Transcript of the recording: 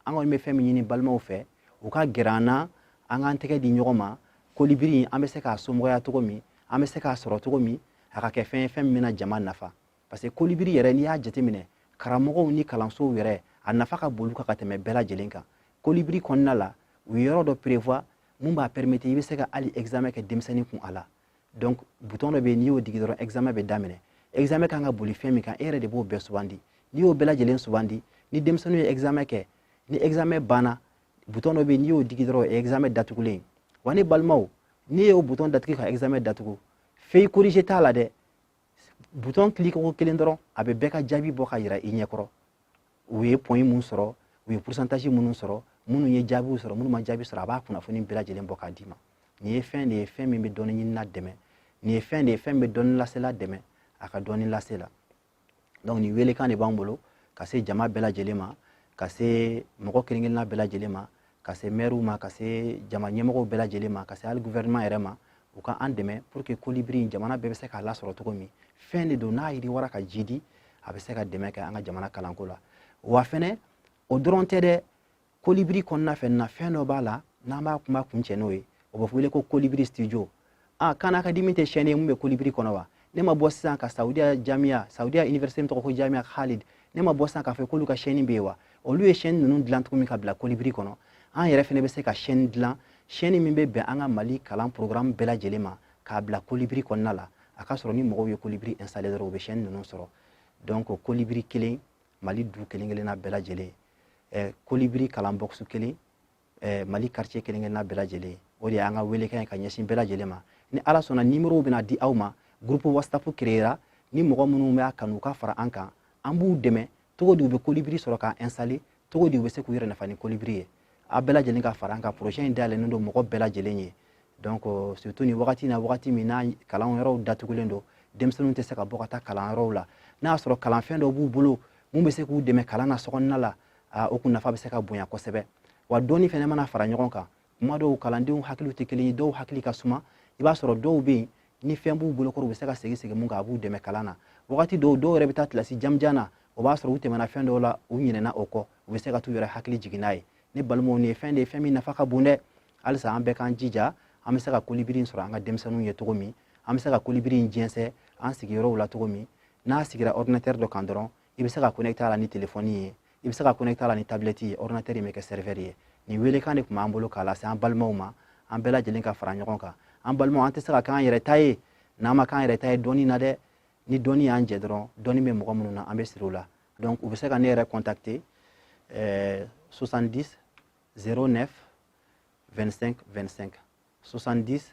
an kɔni bɛ fɛn min ɲini balimaw fɛ u ka gɛrɛ an na an k'an tɛgɛ di ɲɔgɔn ma kolibiri in an bɛ se k'a somɔgɔya cogo min an bɛ se k'a sɔrɔ cogo min a ka kɛ fɛn ye fɛn min bɛna jama nafa parce que kolibiri yɛrɛ n'i y'a jateminɛ karamɔgɔw ni kalansow yɛrɛ a nafa ka bon olu kan ka tɛmɛ bɛɛ lajɛlen kan kolibiri kɔnɔna la u ye yɔrɔ dɔ prévoir mun b'a permettre i bɛ se ka hali examen kɛ denmisɛnnin kun a la donc butɔn dɔ bɛ yen n'i y'o digi dɔrɔn examen bɛ daminɛ examen kan ka boli fɛn min kan e yɛrɛ de b'o bɛɛ sugandi n'i y'o bɛɛ lajɛlen sugandi ni denmisɛnninw ye examen kɛ ni examen banna butɔn dɔ bɛ yen n'i y'o digi dɔrɔn o ye examen datugulen wa ne balimaw n'i y'o butɔn datugu ka examen datugu feuille corriger t'a la dɛ butɔn kiliki ko kelen dɔrɔn a bɛ bɛɛ ka jaabi bɔ k'a yira i ɲɛkɔrɔ u ye point mun sɔrɔ u ye purusantazi minnu sɔrɔ minnu ye jaabiw sɔrɔ minnu ma jaabi sɔrɔ a b'a kunnafoni bɛɛ lajɛlen bɔ k'a d'i ma nin ye fɛn de ye fɛn min bɛ dɔnni ɲinina dɛmɛ nin ye fɛn de ye fɛn bɛ dɔnni lasela dɛmɛ a ka dɔnni lase la donc nin weelekan de b'an bolo ka se jama bɛɛ lajɛlen ma ka se mɔgɔ kelen kelenna bɛɛ lajɛlen ma ka se mɛriw ma ka se jama ɲɛmɔgɔw bɛɛ lajɛlen ma ka se hali guvɛrɛnɛman yɛrɛ ma u ka an dɛmɛ pour que kolibiri in jamana bɛɛ bɛ se k'a lasɔrɔ cogo min fɛn de don n'a yiriwara ka jiidi a bɛ se ka dɛmɛ kɛ an ka jamana kalanko la wa fɛnɛ o dɔrɔn tɛ dɛ kolibiri kɔnɔna fɛnɛ fɛn dɔ b'a la n'an b'a kuma kuncɛ n'o ye o bɛ wele ko kolibiri studio a khan academy tɛ sɛni ye mun bɛ kolibiri kɔnɔ wa ne ma bɔ sisan ka saudiya jamiya saudiya université min tɔgɔ ko jamiya khalid ne ma bɔ sisan k'a fɔ k'olu ka sɛni bɛ yen wa olu ye sɛni ninnu dilan cogo min ka bila kolibiri kɔnɔ an yɛrɛ fana bɛ se ka sɛni dilan sɛni min bɛ bɛn an ka mali kalan programme bɛɛ lajɛlen ma k'a bila kolibiri kɔnɔna la a ka sɔrɔ ni mɔgɔw ye kolibiri installer dɔrɔn u bɛ sɛni ninnu sɔrɔ donc kolibiri kelen mali du kelen kelenna bɛɛ lajɛlen kolibiri kalan bɔkisi kelen eh, mali quartier kelenkelenna bɛɛ lajɛlen o de y'an ka weelekan ye ka ɲɛsin bɛɛ lajɛlen ma ni ala sɔnna nimorow bɛna di aw ma groupe whatsapp créera ni mɔgɔ minnu b'a kanu ka fara an kan an b'u dɛmɛ cogo di u bɛ kolibiri sɔrɔ k'a installer cogo di u bɛ se k'u yɛrɛ nafa ni kolibiri ye a bɛɛ lajɛlen ka fara an kan projet in dayɛlɛnnen don mɔgɔ bɛɛ lajɛlen ye donc euh, surtout nin wagati na wagati min na kalan yɔrɔw datugulen don denmisɛnninw tɛ se ka bɔ ka taa kalan yɔrɔw la n'a y'a sɔrɔ kalanfɛn dɔ b'u bolo mun bɛ se k'u dɛmɛ kalan na sokɔnɔna la aa o kun nafa bɛ se ka bonya kosɛbɛ wa dɔnni fana mana fara ɲɔgɔn kan kuma dɔw kalandenw hakiliw tɛ kelen ye dɔw hakili ka suma i b'a sɔrɔ dɔw bɛ yen ni fɛn b'u bolokɔrɔ u bɛ se ka segin segin mun kan a b'u dɛmɛ kalan na wagati dɔw dɔw yɛrɛ bɛ taa kilasi jamanjan na o b'a sɔrɔ u tɛmɛna fɛn dɔw la u ɲinɛna o kɔ u bɛ se ka t'u yɛrɛ hakili jigin n'a ye ne balimaw nin ye fɛn de ye fɛn min nafa ka bon dɛ halisa an bɛɛ k'an jija an bɛ se ka kolibiri in sɔrɔ an ka denmisɛnninw ye cogo min an bɛ se ka kolibiri in jɛnsɛn an sigiyɔrɔw la cogo min n'a sigira ordinatɛri dɔ kan dɔrɔn i bɛ se ka connecter a la ni telefɔni ye i bɛ se ka connecter a la ni tablɛti ye ordinateur in bɛ kɛ serveur ye nin weelekan de tun b'an bolo k'a lase an balimaw ma an bɛɛ lajɛlen ka fara ɲɔgɔn kan an balimaw an tɛ se ka k'an yɛrɛ ta ye n'an ma k'an yɛrɛ ta ye dɔnni na dɛ ni dɔnni y'an jɛ dɔrɔn dɔnni bɛ mɔgɔ minnu na an bɛ siri o la donc u bɛ se ka ne yɛrɛ contacter 70 09 25 25 70